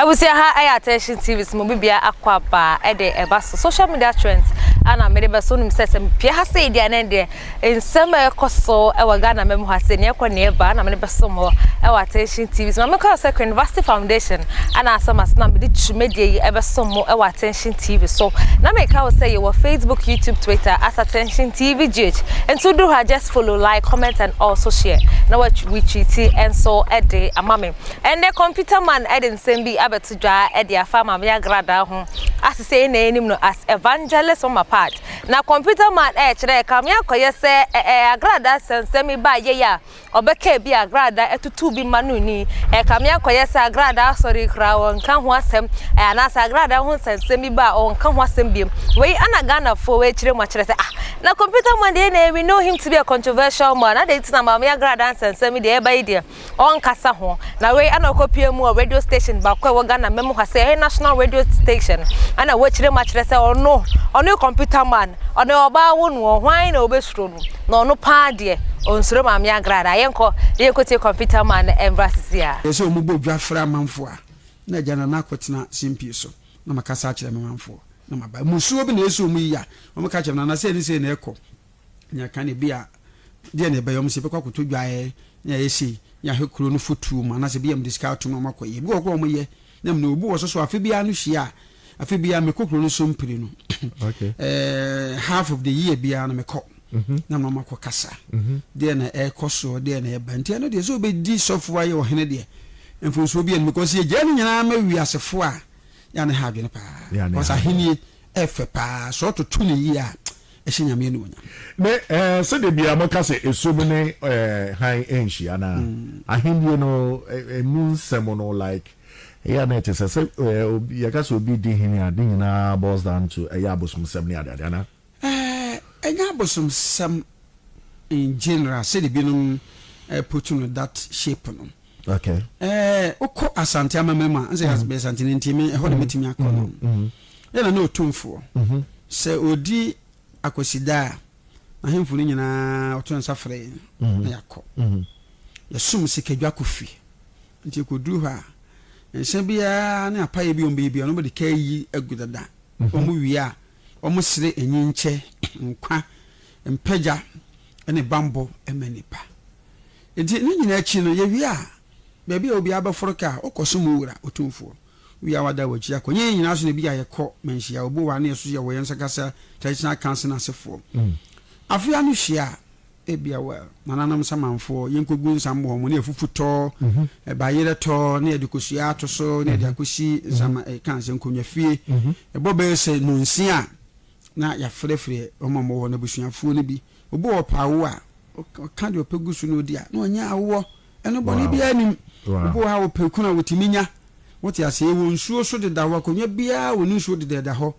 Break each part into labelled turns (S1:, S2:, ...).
S1: abusua ha ɛyɛ attention tv so mo bibia akɔ aba ɛde ɛba so social media trends ana mede bɛso nim sɛ sɛ mepia ha sɛ ɛdi anɛ deɛ Nsɛm a ɛkɔ so wɔ Ghana mma mu ha sɛ nea ɛkɔ nea ɛba na mene bɛsom hɔ wɔ Attention TV so. Ma meka sɛ Queen Vasti Foundation ɛna asɛ ma sena mede twumadie yi ɛbɛsom mo wɔ Attention TV so. Na meka wo sɛ yɛwɔ Facebook, YouTube, Twitter as Attention TV GH. Nti woduru ha just follow, like, comment and also share na wa retweeti nso ɛde ama me. Ɛndɛ Computer Man ɛde nsɛm bi abɛto dwa ɛde afa Maame Agradaa ho. Asese yɛn na yɛnim no as Evangelist Mama Pat. Na computer man ɛɛ kyerɛ kame akɔyɛ sɛ ɛɛ agradaa sɛnsɛm bi baa yɛi a ɔbɛkɛɛ bi agradaa ɛtutuu bi ma no ni ɛɛ kame akɔyɛ sɛ agradaa asɔre koraa ɔnka ho asɛm ɛɛ anaasɛ agradaa ho nsɛnsɛm bi baa ɔnka ho asɛm biom wei ɛna Ghana foɔ wei kyerɛ mu akyerɛ sɛ ah na computer man deɛ na we know him to be a controversial man adɛn nti na maame agradaa nsɛnsɛm yi deɛ ɛɛba yi deɛ ɔnnkasa ho. Na wei na ɔkɔpue mu wɔ radio station baako a ɛwɔ Ghana mma mu ha sɛ ɛyɛ national radio station ɛna wakyerɛ mu akyerɛ sɛ ɔno ɔno computer man ɔno ɔbaa wo no hwan na ɔbɛsuro no na ɔno paa deɛ ɔnsuro maame agrada yɛnkɔ na yɛnkɔtie computer man no ɛmra sisi a. Ɛsɛ wɔn bɔ dwa
S2: frɛ amanfoɔ a na agya nana akɔtena simpie so na makasa akyerɛ me manfoɔ na maba mmusuo bi na ɛsɛ wɔn yi a wɔn ka kyerɛ nana sɛ ne sɛ na ɛkɔ. Na ɛka no ebia, deɛ na ɛbɛyɛ wɔn sɛ ɛbɛkɔ akɔtɔ dwaeɛ ne ayɛ sei ne ahwɛ kuro no fotuo mu anaasɛ ebia wɔde sika atom na wɔakɔ yɛ. Ebi wɔ hɔ koraa a wɔyɛ na mmom obi wɔ so so afe biara no hyia a, afe biara mekɔ kuro no so mpire no. Ɛɛ
S3: half
S2: of the year biara no mekɔ na mama kɔ kasa. Deɛ na ɛkɔ soɔ, deɛ na ɛba. Nti ɛno deɛ sɛ obɛdi sɔfo ayɛ ɔhene deɛ mfonsuo bi anim kɔsi yɛgyaa no nyinaa ma wiasefo a yɛ a ne ha adwene paa. Kɔsa ahennie ɛfɛ paa sɛ ɔtoto ne yie a ɛhyɛ Nyame anuonyam. Ne eh, sɛdeɛ
S3: biaa mo ka sɛ esum ne eh, hann ɛnhyia no a, ahendie no eh, ɛmu nsɛm no like ɛyɛ a na ɛte sɛ sɛ eh, obi, yɛka sɛ obi di hene a, ne nyinaa boils down to ɛyɛ abosomsɛm ne adeade anaa? Eh, ɛnyɛ
S2: abosomsɛm in general sɛdeɛ binom eh, put no that shape no. Okay. Eh,
S3: wokɔ
S2: Asante amammerɛ mu a, nsɛ mm. bɛyɛ Santene nti me ɛhɔ na mm. mɛtumi akɔ no. Mm-hmm. Ɛna na ɔtumfoɔ. Mm-hmm. Sɛ ɔdi akwasida a, n'ahemfo no nyinaa ɔto nsa frɛ yɛn mm-hmm. na yɛakɔ. Yɛsom sikadwa kɔ fie. Nti ɛkɔduru hɔ a, nhyɛ biara ne apayɛ bi ɔmbɛyɛ biara, ɔmɔde ka yi agu dada. Ɔmo wie a, ɔmo sere enyinkyɛ, nkwa, mpagya, ne bammɔ ma nnipa. Enti ne nyinaa akyi no, yɛwie a, baabi a obiara bɛforo kɔ a, ɔkɔ so mu Wura, Otumfoɔ. Wie a wada w'akyi akɔ. Nyɛ yɛn nyinaa so na ebia yɛkɔ manhyia, obu wɔ ha na yɛsusu yɛwɔ yɛn nsa kasa, traditional council asefoɔ. Afe ano hyia a, ebia wɔ Nananom Samanfoɔ, yɛnkɔgu nsa mmɔ wɔn, ne afufu tɔ, bayerɛ tɔ, ne yɛde kosua ato so, ne yɛde akɔsi nsama, ɛka sɛ nkonnwa fie, ɛbɔ bɛyɛ sɛ nnɔnsia a, Na yɛafrɛfrɛ wɔn a wɔwɔ n'abusuafoɔ no bi. Obi wɔ hɔ ɔpɛ awo a, ɔka deɛ ɔpɛ gu so na ɔdi a, na ɔnya awoɔ. Ɛno bɔne biara nnim. Obi wɔ hɔ a ɔpɛ kunu a, ɔtumi nya. Wote aseɛ? Yɛwɔ nsuo so dedaw hɔ. Akonnwa biara wɔ ne nsuo dedaw da hɔ.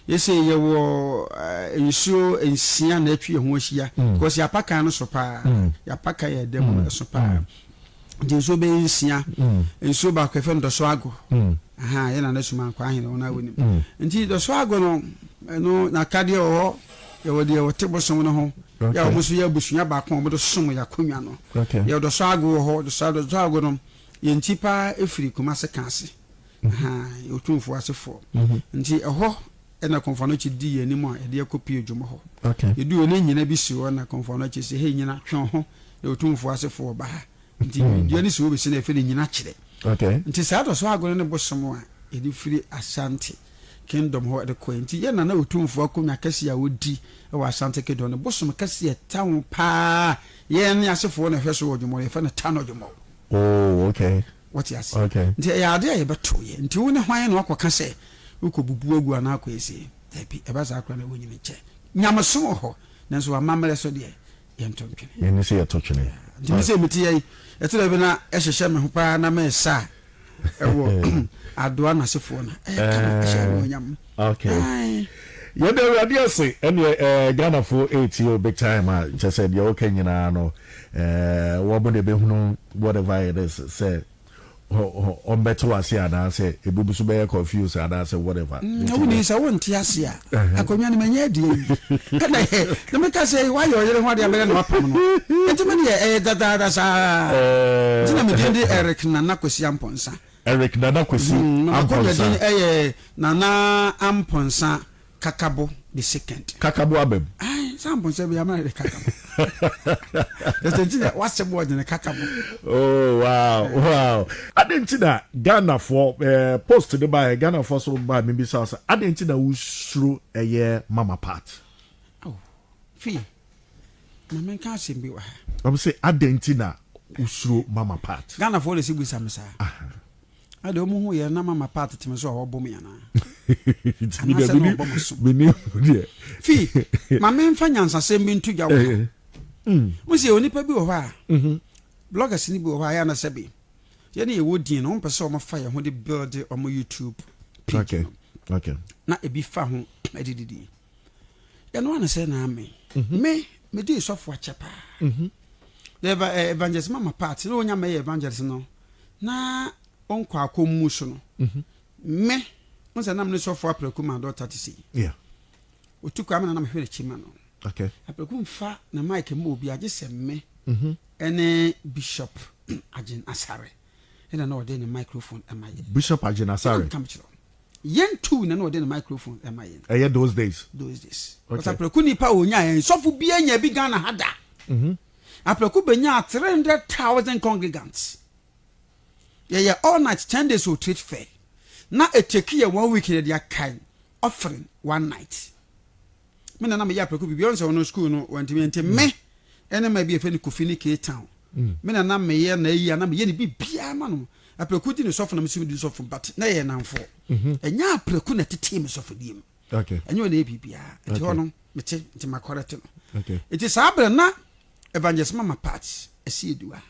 S2: Seesei yɛwɔ nsuo nsia na atwi yɛn ho ahyia, because yɛapa kan no so pa ara. Yɛapa kan a ɛda mu no so pa ara. Nti nsuo bɛyɛ nsia. Nsuo baako yɛfrɛ no Dɔso Ago. Aha, yɛ Nana Suma Ankwaa Ahene, wɔn a wɔnim. Nti Dɔso Ago no, ɛno n'atadeɛ wɔ hɔ, yɛwɔ deɛ wɔte bosom no ho, yɛ a wɔn nso yɛ abusua baako a wɔde som yɛn akonnwa no. Yɛwɔ Dɔso Ago wɔ hɔ, Dɔso Dɔso Ago no, yɛn ti paa firi Kumase Kaase, aha, yɛ Otumfoɔ asefoɔ. Nti ɛhɔ. Ɛna Kɔmfoanochi dii yɛn anim a yɛde akɔ Pio dwom hɔ. Yɛduu hɔ no, na Nyina bi si hɔ. Ɛna Kɔmfoanochi se, Hei Nyina, twe wo ho na Otumfoɔ asefo wɔ ba ha. Nti dua no si hɔ besi na yɛfrɛ no Nyina kyerɛ. Nti saa da so agono ne bosom a yɛde firi Asante Kingdom hɔ de kɔe. Nti yɛ na na Otumfoɔ akonwa kɛse a odi wɔ Asante Kingdom no bosom kɛse a ɛta ho paa a yɛn ne asefoɔ na ɛhwɛ so wɔ Odwomɔɔ no, yɛfrɛ no Tano Odwomɔɔ. Oh, okay.
S3: Wote aseɛ? Okay.
S2: Nti ɛyɛ adeɛ a yɛbɛto yɛ. Nti wo ne hwan na wakɔka sɛ wokɔ bubu agu anaa akɔ esie? Daabi, ɛba saa koraa na wonyini kyɛ. Nyamesom wɔ hɔ, nanso amammerɛ so deɛ, yɛnto ntwene. Yɛn ani so yɛto twene.
S3: Yeah. Nti me sɛ mete yɛ
S2: yi, ɛte dɛ bi na ɛhyehyɛ me ho paa na mɛsa a, ɛwɔ Adoa Nasefoɔ no a, ɛyɛ kama, ɛhyɛ anuonyam. Okay.
S3: Yɛda Awurade ase. Ɛneɛ eh, Ghanafo ɛretie o big time a kyɛ sɛ deɛ woka nyinaa no eh, wɔn na ɛbɛhunu whatever it is sɛ ɔmbɛte wase anaasɛ ebi nso bɛyɛ confuse anaasɛ whatever. Mm, na woni sɛ wonte
S2: ase a akonnwa no manya adi ayi ɛna yɛ na meka sɛ woayɛ ɔyere ho ade abɛyɛ na wapam no nti me deɛ ɛyɛ dadaada saa nti na medin de Eric Nana Kwasi Ampɔnsa Eric
S3: Nana Kwesi Amponsah. Nana Kwesi yɛ
S2: Nana Amponsah Kakabo the second. Kakabo aba mu.
S3: Ayi sɛ Amponsah bi
S2: ama yɛ Kakabo. Just nti na wasɛm wɔ gyina Kakabo. Oh wow
S3: wow. Adɛn nti na Ghanafoɔ eh, post no baeɛ Ghanafoɔ so baa mebisa sɛ adɛn nti na wosuro ɛyɛ mama part? Oh,
S2: fii Maame nka asɛm bi wɔ ha. Ɔbɛ sɛ adɛn
S3: nti na wosuro mama pat. Ghana foɔ de si bisa me
S2: saa. Ɛde wɔn hu yɛ na mama pat teme so a wɔbɔ me anaa. Anaasɛ na wɔbɔ mo so. Fi maame nfa nyansasɛm bi nto dwa wɔ ha. Mo sɛ onipa bi wɔ hɔ a. Mhm. Bloggers ni bi wɔ hɔ a yɛ na sɛbi. Yɛ ne yɛ wɔ din no wɔn pɛ sɛ wɔn fa yɛ ho de build wɔn YouTube page
S3: no. Na ebi
S2: fa ho ɛde didi. yɛnoa no sɛ naa me mhm. me medii sɔfo akyɛ paa mhm. eh, evangelist mama part na ɔnya mɛyɛ evangelist no na ɔnkɔ akɔ mu so no mhm. me n sɛ nam ne sɔfo aprɛku ma dɔta te sei ɔtu kɔ amena na mehwɛ n'akyi ma no aprɛku
S3: mfa
S2: na mike ma obi agye sɛ me ɛne bishop agyen asare ɛna na ɔde ne microphone ɛma yɛ bishop agyen
S3: asare Yen
S2: tu na na ɔde ne microphone ɛma yen. Ɛyɛ those days.
S3: Those days. But apreku
S2: nipa a onya yɛn sɔfo bi anya bi Ghana ha da. Mhm. Apreku benya three hundred thousand congregants. Yɛyɛ all night ten days o trade fair. Na eteki yɛ one week na yɛde akae offering one night. me na na meyɛ aprɛko biribi ɔn sɛ ɔno sukuu no wantumi nti me ɛne ma bi ɛfɛ no kofi ne k town mm. me na na meyɛ na ayi ana meyɛ ne biribiaa ma no aprɛko di ne sɔfo na mesɛ medi sɔfo but na yɛ namfoɔ mhm. ɛnyɛ aprɛko na tetee me sɔfodie mu ɛnyɛ ɔna yɛ
S3: biribiaa
S2: ɛti hɔ no mete nti makɔrɛ te no ɛti saa berɛ
S3: na
S2: evangelist mama parts ɛsi aduwa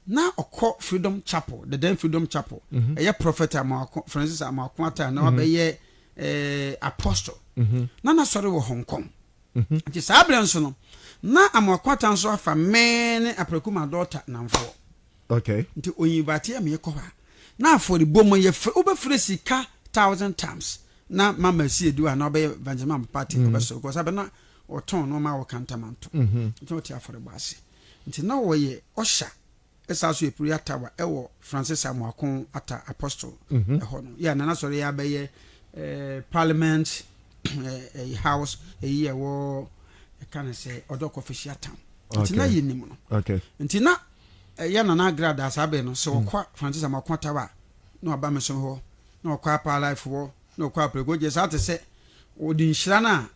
S2: Na ɔkɔ Freedom Chapel, the then Freedom Chapel. Ɛyɛ Prophet Amoako, Francis Amoako Atta na wabɛyɛ eh, Apostle. Na n'asɔre wɔ Hong Kong. Nti saa berɛ nso no, na Amoako Atta nso afa me ne Apraku Mado Ɔtta nnamfoɔ. Okay. Nti
S3: ɔyinvateɛ
S2: me kɔ hɔ a, na afɔrebɔ mu yɛfrɛ, wobɛfrɛ sika thousand times na Mama si adi hɔ anaa ɔbɛyɛ Evangelist Mama Papa Ate, ɔbɛsɔre kɔ, saa berɛ na ɔtɔn nnoɔma a ɔka ntamanto. Nti na ɔte afɔrebɔ ase. Nti na wɔyɛ ɔsha ɛsan nso yɛ prayer tower ɛwɔ Francis Amoakon Atta Apostle ɛhɔ no yɛ a na n'asɔre yɛ abɛyɛ parliament ɛyi house ɛyi ɛwɔ ɛka ne sɛ ɔdɔ kɔfɛhyia town nti na yɛ nim no nti na ɛyɛ nana agrada saa bɛn no sɛ mm. wɔkɔ Francis Amoakon Atta wa na waba me som hɔ na wɔkɔ apaa life hɔ na wɔkɔ apɛrɛgɔgye saa te sɛ wɔde nhyira no a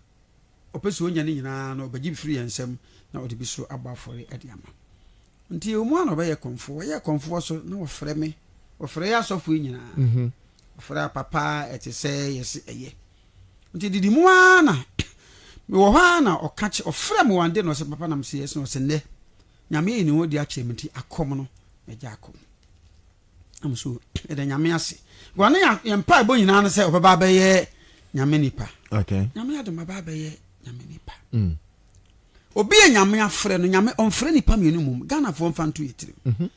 S2: ɔpɛ sɛ ɔnya no nyinaa no, ɔbɛgye bi firi yɛn nsam na ɔde bi so abɔ afɔre de ama. Nti yɛwɔ mu a na ɔbɛyɛ kɔmfoɔ. Ɔyɛɛ kɔmfoɔ so na ɔfrɛ me. Ɔfrɛ yɛ asɔfo yi nyinaa. Mhm. Ɔfrɛ a papa ɛte sɛ yɛse ɛyɛ. Nti didi mu ara na mewɔ hɔ ara na ɔka kye, ɔfrɛ me one day na ɔse papa na mese yes na ɔse nnɛ Nyame ayi ne ho adi akyerɛ me nti akɔm no mɛgya akɔm. Am so yɛda nyame ase gua ne yɛn mpaebɔ nyinaa no sɛ ɔbɛba abɛyɛ nyame nipa nyame adom
S3: aba abɛyɛ
S2: nyame nipa mm. obi yɛ nyame afrɛ no nyame ɔmfrɛ nipa mmienu mmom ghanafoɔ mfa nto yɛ tirim mhm.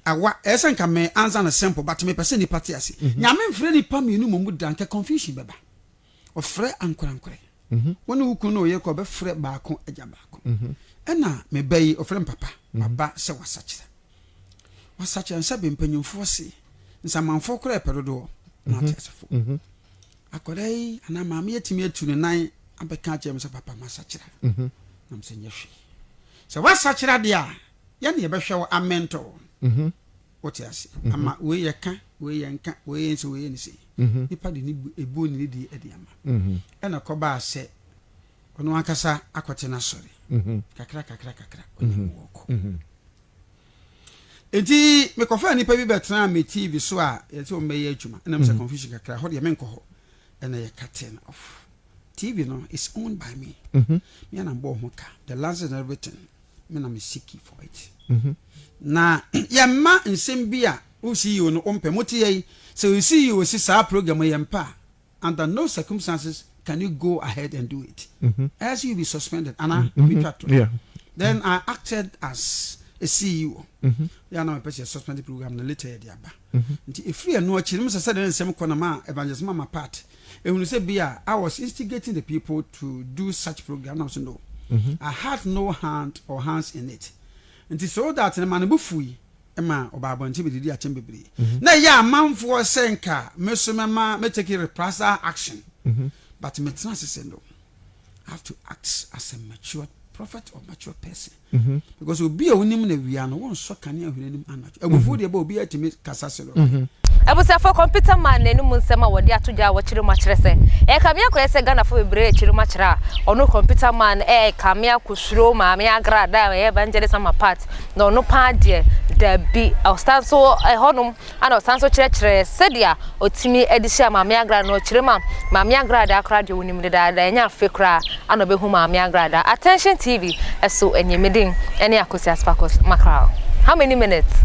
S2: awa ɛyɛ sɛ nka me ansa no simple but mepɛ sɛ nipa te ase mhm. nyame mfrɛ nipa mmienu mmom da nka confusion bɛba ɔfrɛ ankorankorɛ wo ne wo kunu ne wo yere kɔ ɔbɛfrɛ baako agya baako ɛna me ba yi ɔfrɛ me papa maba sɛ wasakyerɛ wasakyerɛ nsɛ bɛ mpanyimfoɔ se nsamanfoɔ koraa ɛpɛ dodoɔ na ɔte asefo akwadaa yi anaa maame yi atumi atu ne nan abɛka akyerɛ me sɛ papa masakyerɛ nam sɛ nyɛ hwee sɛ wasakyerɛ deɛ a yɛne yɛbɛhwɛ wo amɛntɔ Wote ase? Mhm. Ama wei yɛ ka, wei yɛ nka, wei yɛ nse, wei yɛ nse. Mhm. Nipa de ne bu ebu ne ne di ɛde ama. Mhm. Ɛna kɔbaa sɛ ɔno ankasa akɔte n'asɔre. Mhm. Kakra kakra kakra ɔne mhm. mu wɔkɔ. Mhm. Eti mekɔfaa nipa bi bɛtena me TV so a yɛte wɔn bɛyɛ adwuma. Ɛna mo sɛ mhm. confusion kakra hɔ deɛ menkɔ hɔ. Ɛna yɛ curtain off. TV no is owned by me. Mhm. Me anam bɔɔ ho ka. The license and everything. me na me siki for it mhm. na yɛmma nsɛm bi a wo ceo no wompɛ mote yɛ yi sɛ wo ceo si saa program yɛmpɛ a under no circumstances can you go ahead and do it mhm. else you be suspended anaa mhm. metwa to then i acted as a ceo yɛ na mepɛ sɛ suspended program no later yɛde aba Nti ɛfiri ɛno akyi no, mesɛ sɛ dɛn nsɛm kɔ na ma evangelist mama part. Ehunu sɛ bi a, I was instigating the people to do such program na so no. I had no hand or hands in it. Nti so that no ma ne bo fui ma ɔbaa abɔnten bɛdidi akyɛm bebree. Na ɛyɛ amanfoɔ sɛ nka me so mɛma mɛ take reprisal action. But metena ase sɛ no, I have to act as a matured prophet or matured person. Mhm. Because obi a wonim na wia no wonsɔ kanea hwene anim anadwo. Mhm. Abufuo deɛ bɛ obi atumi kasa se no. Mhm. Abusuafo,
S1: Computer Man n'anum nsɛm a wɔde ato dwa a wɔkyere mu akyerɛ sɛ ɛka me akoyɛ sɛ Ghanafo bebree rekyere mu akyerɛ a ɔno Computer Man ɛka me akosuro Maame Agra da a ɛyɛ Evangelist Ama Pat na ɔno paa deɛ dabi ɔsan so ɛhɔnom Ɛna ɔsan nso kyerɛkyerɛɛ sɛdeɛ ɔtumi de hyɛɛ Maame Agradaa no ɔkyerɛ mu a Maame Agradaa koraa deɛ ɔnim dedaada ɛnyɛ afe koraa ɛna ɔbɛhu Maame Agradaa Attention TV so ɛnyɛ me din ɛne Akosi Aspakos Mackerel How many minutes?